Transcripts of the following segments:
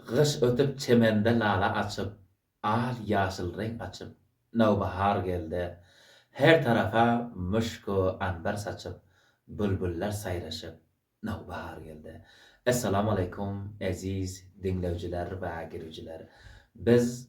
Gyş ötüp çemende lala açyp, Al ýaşyl reň açyp, Nowbahar geldi. Her tarafa müşk-u anbar saçyp, Bülbüller saýraşyp, Nowbahar geldi. Essalamu aleýkum eziz diňleýjiler we girijiler. Biz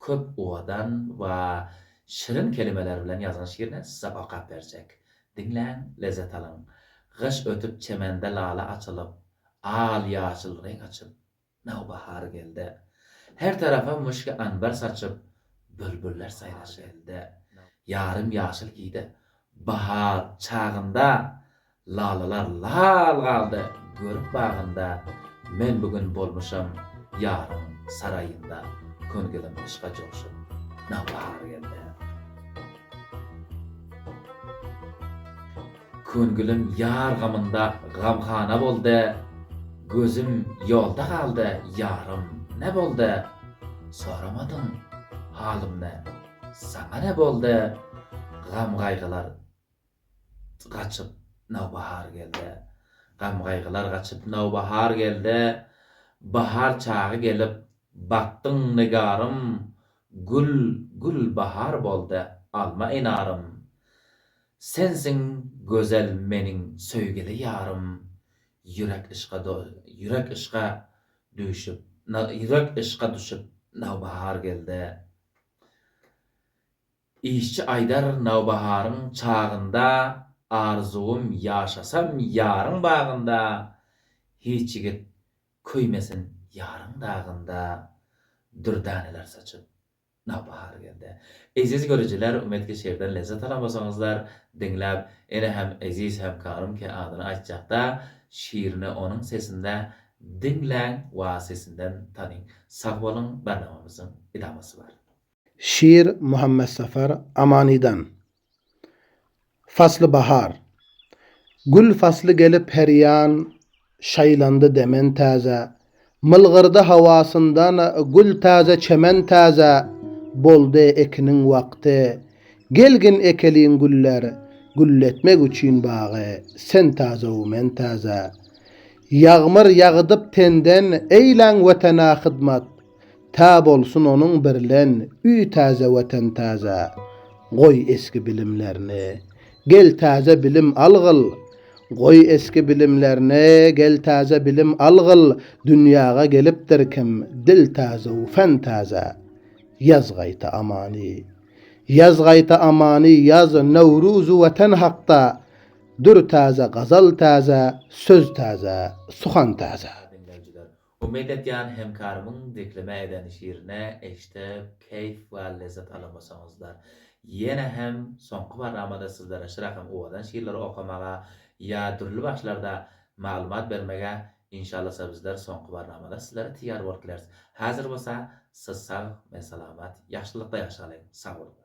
köp owadan we şirin kelimeler bilen ýazgyň şiirine size okap berjek. Diňläň, lezzet alyň. Gyş ötüp çemende lala açylyp, al-ýaşyl reň açyp, nawbahar geldi. Her tarapa muşki anbar saçyp, bülbüller saýraşyp. Ýarym ýaşyl idi bahar çagynda, Lalalar lal galdy görüp bagynda, Men bu gün bolmuşam ýaryň saraýynda, Köngilim yşka joşup, nawbahar geldi. Köngilim ýar gamynda gamhana boldy, Gözüm ýolda galdy, ýarym, ne boldy? Soramadyň halymny, saňa ne boldy? Gam-gaýgylar gaçyp, nawbahar gelde. Gam-gaýgylar gaçyp, nawbahar gelde, Bahar çagy gelip, bakdyň nigarym, Gül, gül bahar boldy, alma enarym. Sensiň gözel meniň söýgili ýarym, Ýürek yşka do ýürek yşka düwşüp, na ýürek yşka düşüp, nawbahar gelde. Işçi aýdar nawbaharyň çagynda Arzuwym ýaşasam ýaryň bagynda Hiç ýigit köýmesin ýaryň dagynda Dürdaneler saçyp nawbahar gelde. Eziz görüjiler umetki şirden lezzet alan bolsaňyzlar diňläp ene hem eziz hem kagrym ki adyny aýtjakda şirini onuň sesinde diňläň wa sesinden tanyň. Sag boluň Barnamamyzyň idamasy bar. Şir Muhammetsapar Amanydan. Fasly bahar. Gül fasly gelip her ýan Şaýlandy demen täze. Mylgyrdy hawasyndan gül täze çemen täze Boldy ekiniň wagty. Gelgin ekeliň güller Gülletmek üçin bagy Sen täze-u men täze. Ýagmyr ýagydyp tenden Eýläň Wetene hyzmat. Tä bolsun onuň birlen Üý täze Watan täze Goý eski bilimlerini Gel täze bilim algyl Goý eski bilimlerini Gel täze bilim algyl Dünýäge gelipdir kim Dil täze u fän täze Ýaz gaýta amany Ýaz gaýta amany Ýaz Nowruz u Watan hakda Dür täze gazal täze Söz täze suhan täze. Umyt etýän hemkarymyň dikleme eden şirini eşdip keýf we lezzet alamasaňyzlar. Ýene hem soňky barnamada sizlere Şyrakam owadan şirleri okamaga ýa dürli bagşylarda maglumat bermege inşallasa bizler soňky barnamada sizlere teýýar bolup bileris. Häzir bolsa siz sag men salamat ýagşylykda ýaşalyň sag boluňlar.